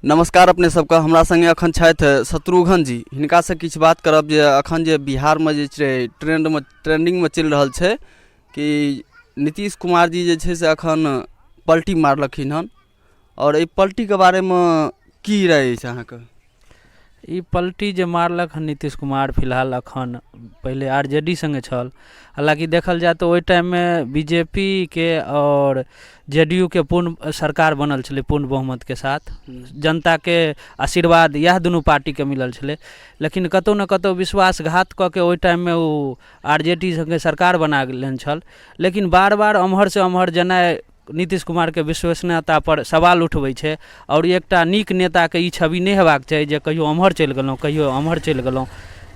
नमस्कार अपने सबके हमरा संगे अखन छथि शत्रुघ्न जी हिनका से किछु बात करब जे अखन जे बिहार में जे छै ट्रेंड में ट्रेंडिंग में चलि रहल छै कि नीतीश कुमार जी जे छै से अखन पलटी मारलखिन हन और एहि पलटी के बारे में की राय अछि अहाँके ई पलटी जे मारलक हँ नीतीश कुमार फिलहाल एखन पहिले आर जे डी सङ्गे छल हालाँकि देखल जाय तऽ ओहि टाइममे बी जे पी के आओर जे डी यू के पूर्ण सरकार बनल छलै पूर्ण बहुमतके साथ जनताके आशीर्वाद इएह दुनू पार्टीके मिलल छलै लेकिन कतहु ने कतहु विश्वासघात कऽ के ओहि टाइममे ओ आर जे डी सङ्गे सरकार बना लेने छल लेकिन बार बार एम्हरसँ ओम्हर जेनाइ नीतीश कुमारके विश्वसनीयतापर सवाल उठबै छै आओर एकटा नीक नेताके ई छवि नहि हेबाक चाही जे कहियो एम्हर चलि गेलहुँ कहियो एम्हर चलि गेलहुँ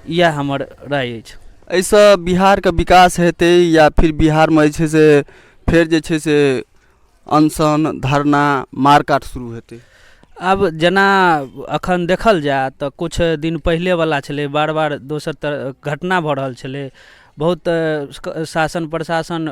इएह हमर राय अछि एहिसँ बिहारके विकास हेतै या फिर बिहारमे जे छै से फेर जे छै से अनशन धरना मारकाट शुरू हेतै आब जेना अखन देखल जाय तऽ कुछ दिन पहिले वाला छलै बार बार दोसर तर घटना भऽ रहल छलै बहुत शासन प्रशासन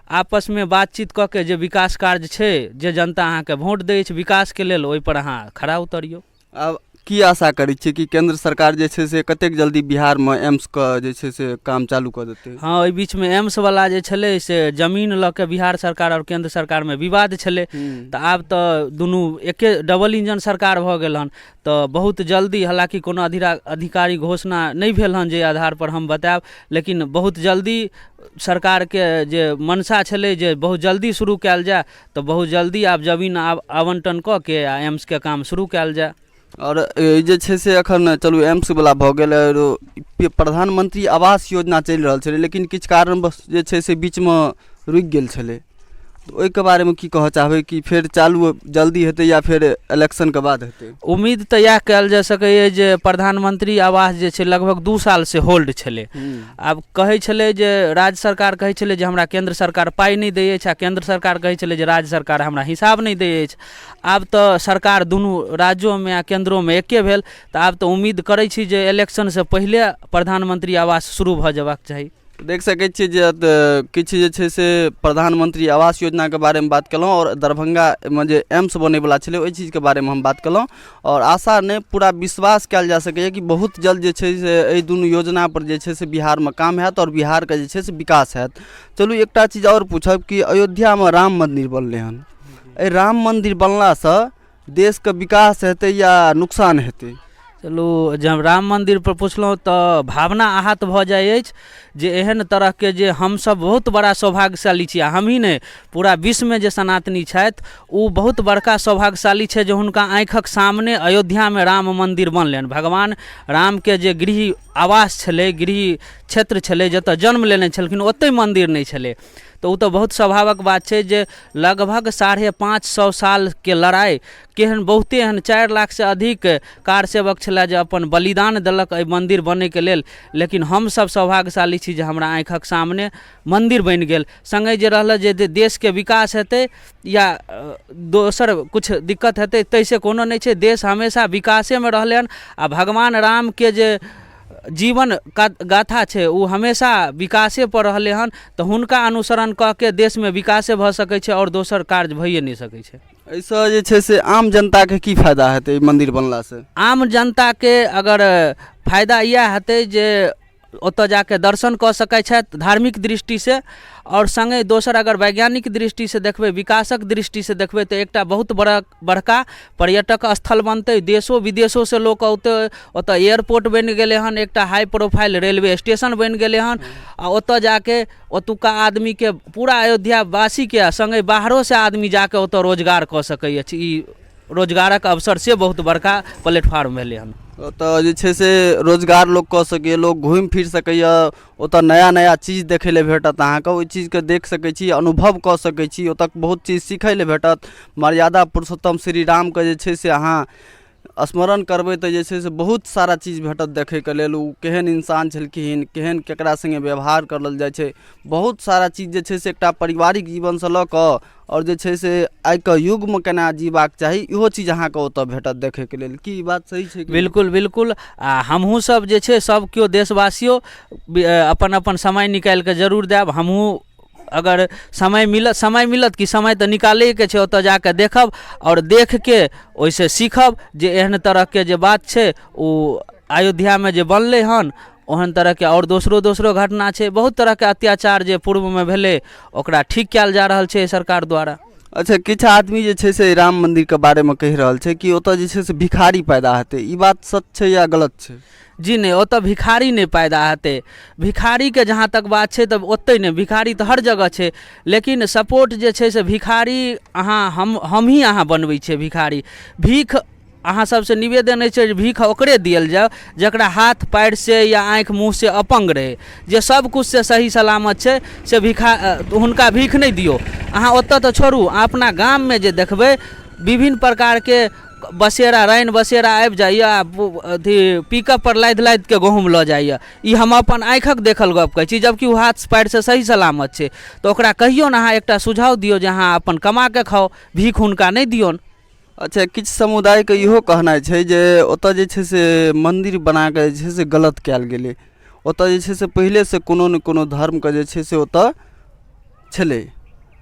आपसमे बातचीत कऽ के जे विकास कार्य छै जे जनता अहाँके वोट दै अछि विकासके लेल ओहिपर अहाँ खड़ा उतरियौ आब की आशा करै छियै कि केन्द्र सरकार जे छै से कतेक जल्दी बिहारमे एम्सके जे छै से काम चालू कऽ देतै हँ ओहि बीचमे एम्सवला जे छलै से जमीन लऽ कऽ बिहार सरकार आओर केन्द्र सरकारमे विवाद छलै तऽ आब तऽ दुनू एके डबल इंजन सरकार भऽ गेल हन तऽ बहुत जल्दी हालाँकि कोनो अधिरा अधिकारी घोषणा नहि भेल हँ जे आधारपर हम बताएब लेकिन बहुत जल्दी सरकारके जे मनसा छलै जे बहुत जल्दी शुरू कएल जाए तऽ बहुत जल्दी आब जमीन आब आवन्टन कऽ कऽ आओर एम्सके काम शुरू कएल जाए आओर ई जे छै से एखन चलू एम्सवला भऽ गेल आओर ई प्रधानमन्त्री आवास योजना चलि रहल छलै लेकिन किछु कारणवश जे छै से बीचमे रुकि गेल छलै तऽ ओहिके बारेमे की कहऽ चाहबै कि फेर चालू जल्दी हेतै या फेर इलेक्शनके बाद हेतै उम्मीद तऽ इएह कयल जा सकैए जे प्रधानमंत्री आवास जे छै लगभग दू साल से होल्ड छलै आब कहै छलै जे राज्य सरकार कहै छलै जे हमरा केंद्र सरकार पाइ नहि दै अछि आ केंद्र सरकार कहै छलै जे राज्य सरकार हमरा हिसाब नहि दै अछि आब तऽ सरकार दुनू राज्योमे आ केंद्रोमे एके भेल तऽ आब तऽ उम्मीद करै छी जे इलेक्शनसँ पहिले प्रधानमंत्री आवास शुरू भऽ जयबाक चाही देख सकै छियै जे अ, किछु जे छै से प्रधानमंत्री आवास योजनाके बारेमे बात केलहुँ आओर दरभंगामे जे एम्स बनैवला छलै ओहि चीजके बारेमे हम बात केलहुँ आओर आशा नहि पूरा विश्वास कयल जा सकैए कि बहुत जल्द जे छै से एहि दुनू योजनापर जे छै से बिहारमे काम हैत आओर बिहारके जे छै से विकास हैत चलू एकटा चीज आओर पूछब कि अयोध्यामे राम मन्दिर बनलै हन एहि राम मन्दिर बनलासँ देशके विकास हेतै या नुकसान हेतै चलू जब राम मन्दिरपर पुछलहुँ तऽ भावना आहत भऽ जाइ अछि जे एहन तरहके जे हमसभ बहुत बड़ा सौभाग्यशाली छी आ हमहीँ नहि पूरा विश्वमे जे सनातनी छथि ओ बहुत बड़का सौभाग्यशाली छथि जे हुनका आँखिक सामने अयोध्यामे राम मन्दिर बनलनि भगवान रामके जे गृह आवास छलै गृह क्षेत्र छलै जतय जन्म लेने छलखिन ओतहि मन्दिर नहि छलै तऽ ओ तऽ बहुत स्वाभाविक बात छै जे लगभग साढ़े पाँच सए सालके लड़ाइ केहन बहुते एहन चारि लाखसँ अधिक कार सेवक छलए जे अपन बलिदान देलक एहि मन्दिर बनयके लेल लेकिन हमसभ सौभाग्यशाली छी जे हमरा आँखिक सामने मन्दिर बनि गेल सङ्गहि जे रहलै जे देशके विकास हेतै या दोसर किछु दिक्कत हेतै ताहिसँ कोनो नहि छै देश हमेशा विकासेमे रहलै हन आ भगवान रामके जे जीवन क गाथा छै ओ हमेशा विकासे पर रहलै हन तऽ हुनका अनुसरण कऽ के देशमे विकासे भऽ सकै छै आओर दोसर कार्य भइए नहि सकै छै एहिसँ जे छै से आम जनताके की फायदा हेतै ई मन्दिर बनलासँ आम जनताके अगर फायदा इएह हेतै जे ओतऽ जाके दर्शन कऽ सकै छथि धार्मिक दृष्टि से आओर सङ्गे दोसर अगर वैज्ञानिक दृष्टि से देखबै विकासक दृष्टि से देखबै तऽ एकटा बहुत बड़ा बड़का पर्यटक स्थल बनतै देशो विदेशोसँ लोक औतै ओतय एयरपोर्ट बनि गेलै हन एकटा हाइ प्रोफाइल रेलवे स्टेशन बनि गेलै हन आ ओतय जा कऽ ओतुक्का आदमीके पूरा अयोध्यावासीके आ सङ्गे बाहरोसँ आदमी जा कऽ ओतय रोजगार कऽ सकै अछि ई रोजगारक अवसर से बहुत बड़का प्लेटफार्म भेलै हन ओतय जे छै से रोजगार लोक कऽ सकैए लोक घुमि फिरि सकैए ओतऽ नया नया चीज देखै लए भेटत अहाँके ओहि चीजके देख सकै छी अनुभव कऽ सकै छी ओतऽ बहुत चीज सीखै लए भेटत मर्यादा पुरुषोत्तम श्री रामके जे छै से अहाँ स्मरण करबै तऽ जे छै से बहुत सारा चीज भेटत देखैके लेल ओ केहन इन्सान छलखिन केहन केकरा सङ्गे व्यवहार करल जाइ छै बहुत सारा चीज जे छै से एकटा पारिवारिक जीवनसँ लऽ कऽ आओर जे छै से आइ के युग मे केना जीबाक चाही इहो चीज अहाँके ओतऽ भेटत देखै के लेल की ई बात सही छै कि बिल्कुल बिल्कुल आ हमहूँ सब जे छै सब केओ देशवासियो बि- अ, अपन अपन समय निकालि कऽ जरूर देब हमहूँ अगर समय मिलत समय मिलत कि समय तऽ निकालैके छै ओतऽ जा कऽ देखब आओर देख के ओहिसँ सीखब जे एहन तरहके जे बात छै ओ अयोध्यामे जे बनलै हन ओहन तरहके आओर दोसरो दोसरो घटना छै बहुत तरहके अत्याचार जे पूर्वमे भेलै ओकरा ठीक कयल जा रहल छै सरकार द्वारा अच्छा किछु आदमी जे छै से राम मन्दिरके बारेमे कहि रहल छै कि ओतय जे छै से भिखारी पैदा हेतै ई बात सच छै या गलत छै जी नहि ओतऽ भिखारी नहि पैदा हेतै भिखारीके जहाँ तक बात छै तऽ ओतै नहि भिखारी तऽ हर जगह छै लेकिन सपोर्ट जे छै से भिखारी अहाँ हम हमही अहाँ बनबै छियै भिखारी भीख अहाँ सबसँ निवेदन अछि जे भीख ओकरे देल जाउ जकरा हाथ पयरसँ या आँखि मुँहसँ अपङ्ग रहै जे सब किछुसँ सही सलामत छै से भिखा हुनका भीख नहि दियौ अहाँ ओतऽ तऽ छोड़ू अहाँ अपना गाममे जे देखबै विभिन्न प्रकारके बसेरा राइन बसेरा आबि जाइए आओर अथी पिकअपपर लादि लादिकऽ गहुम लऽ जाइए ई हम अपन आँखिक देखल गप कहै छी जबकि ओ हाथ पयरसँ सही सलामत छै तऽ ओकरा कहियौन अहाँ एकटा सुझाव दियौ जे अहाँ अपन कमाकऽ खाउ भीख हुनका नहि दियौन अच्छा किछु समुदायके इहो कहनाइ छै जे ओतय जे छै से मन्दिर बना कऽ जे छै से गलत कयल गेलै ओतय जे छै से पहिलेसँ कोनो ने कोनो धर्मके जे छै से ओतय छलै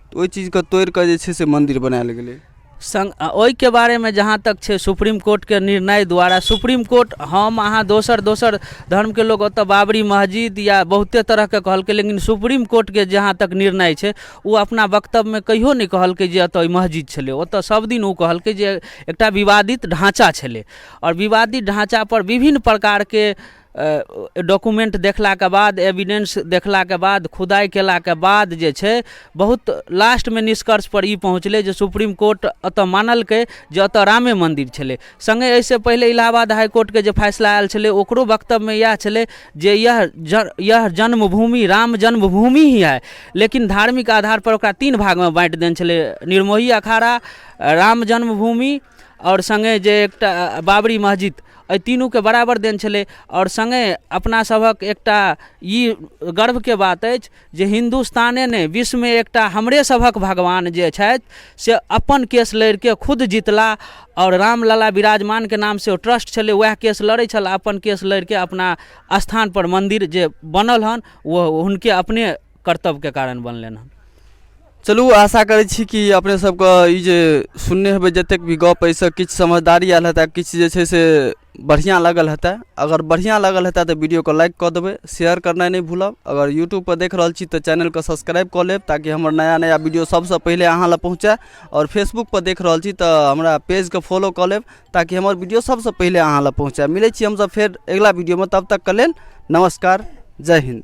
तऽ ओहि चीजकेँ तोड़ि कऽ जे छै से मन्दिर बनायल गेलै संग आ ओहिके बारेमे जहाँ तक छै सुप्रीम कोर्टके निर्णय द्वारा सुप्रीम कोर्ट हम अहाँ दोसर दोसर धर्मके लोक ओतय बाबरी मस्जिद या बहुते तरहके कहलकै लेकिन सुप्रीम कोर्टके जहाँ तक निर्णय छै ओ अपना वक्तव्यमे कहियो नहि कहलकै जे एतय मस्जिद छलै ओतय सभ दिन ओ कहलकै जे एकटा विवादित ढाँचा छलै आओर विवादित ढाँचा पर विभिन्न प्रकारके डॉक्यूमेंट देखलाके बाद एविडेंस देखलाके बाद खुदाइ केलाके बाद जे छै बहुत लास्टमे निष्कर्ष पर ई पहुँचलै जे सुप्रीम कोर्ट एतय मानलकै जे एतय रामे मन्दिर छलै संगे एहिसँ पहिले इलाहाबाद हाईकोर्टके जे फैसला आयल छलै ओकरो वक्तव्यमे इएह छलै जे यह यह जन्मभूमि राम जन्मभूमि ही है लेकिन धार्मिक आधारपर ओकरा तीन भागमे बाँटि देने छलै निर्मोही अखाड़ा राम जन्मभूमि आओर संगे जे एकटा बाबरी मस्जिद एहि तीनूके बराबर देन छलै आओर संगे अपनासभक एकटा ई गर्वके बात अछि जे हिन्दुस्ताने नहि विश्वमे एकटा हमरे सभक भगवान जे छथि से अपन केस लड़िके खुद जीतला आओर रामलला विराजमानके नाम से ओ ट्रस्ट छलै वएह केस लड़ै छल अपन केस लड़िके अपना स्थान पर मन्दिर जे बनल हन ओ हुनके अपने कर्तव्यके कारण बनलनि हन चलू आशा करै छी कि अपने सबके ई जे सुनने हेबै जतेक भी गप एहिसँ किछु समझदारी आयल हेतै किछु जे छै से बढ़िआँ लागल हेतै अगर बढ़िआँ लागल हेतै तऽ वीडियोके लाइक कऽ देबै शेयर करनाइ नहि भूलब अगर यूट्यूबपर देख रहल छी तऽ चैनलके सब्सक्राइब कऽ लेब ताकि हमर नया नया वीडियो सभसँ पहिले अहाँ लग पहुँचै आओर फेसबुकपर देख रहल छी तऽ हमरा पेजके फॉलो कऽ लेब ताकि हमर वीडियो सभसँ पहिले अहाँ लग पहुँचै मिलै छी हमसभ फेर अगिला वीडियोमे तब तकके लेल नमस्कार जय हिन्द